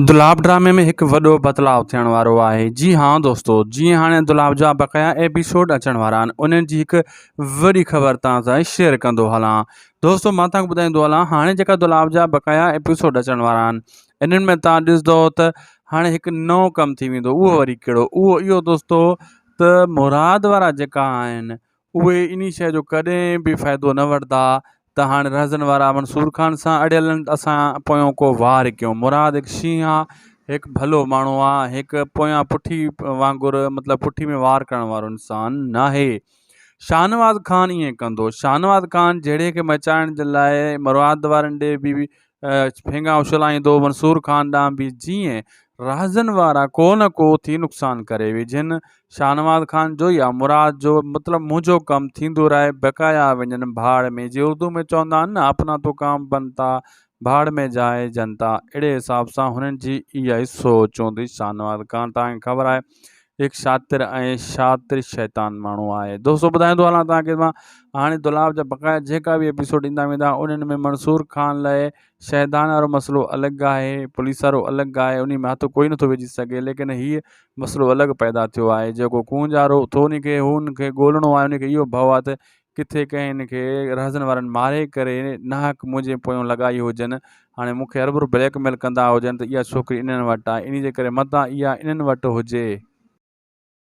دولاب ڊرامي ۾ هڪ وڏو بدلاء ٿيڻ وارو آهي جي ها دوستو جيئن هاڻي دولاب جا بقايا ايپيسوڊ اچڻ وارا آهن انهن جي هڪ وڏي خبر توهان سان شيئر ڪندو هلان دوستو مان توهان کي ٻڌائيندو هلان هاڻي جيڪا دولاب جا بقايا ايپيسوڊ اچڻ وارا آهن انهن ۾ توهان ڏسندو ته هاڻي هڪ نئون ڪم ٿي ويندو اهو وري ڪهڙو اهو اهو دوستو ته مراد وارا جيڪا آهن اهي انهي شيء جو ڪڏهن به فائدو نه ورتا ته هاڻي رهزن وارا منصور خان سان اڙيل آهن اسان پويون ڪو وار ڪيون. مراد هڪ شينهن آ هڪ ڀلو ماڻهو آ هڪ پويان پٺي وانگر مطلب پٺي ۾ وار ڪرڻ وارو انسان ناهي. شاهنواز خان ائين ڪندو. شاهنواز خان جهيڙي کي مچائڻ جي لاء مراد وارن ڏي به ڦينگا اڇلائيندو منصور خان ڏانهن به جيئن رهزن وارا ڪو نه ڪو ٿي نقصان ڪري وجهن. شاهنواز خان جو يا مراد جو مطلب منهنجو ڪم ٿيندو رهي بقايا وڃن ڀاڙ ۾ جي اردو ۾ چوندا آهن نه اپنا تو ڪام بنتا ڀاڙ مين جائي جنتا اهڙي حساب سان هنن جي اها ئي سوچ هوندي شاهنواز خان تان کي خبر آهي هڪ شاطر ۽ شاطر شيطان ماڻهو آهي دوستو ٻڌائيندو هلان توهان کي مان هاڻي دولاب جا بقايا جيڪا به ايپيسوڊ ايندا ويندا انهن ۾ منصور خان لاء شهدان وارو مسئلو الڳ آهي پوليس وارو الڳ آهي انهي ۾ هٿ ڪوئي نٿو وجهي سگهي ليڪن هي مسئلو الڳ پيدا ٿيو آهي جيڪو ڪونجارو اٿو انهي کي هو انهن کي ڳولهڻو آهي انهي کي اهو ڀئو آهي ته ڪٿي ڪنهن کي رهزن وارن ماري ڪري ناحق منهنجي پويون لڳائي هجن هاڻي مونکي اربر بليڪ ميل ڪندا هجن ته اها ڇوڪري انهن وٽ آهي انهي جي ڪري متان اها انهن وٽ هجي.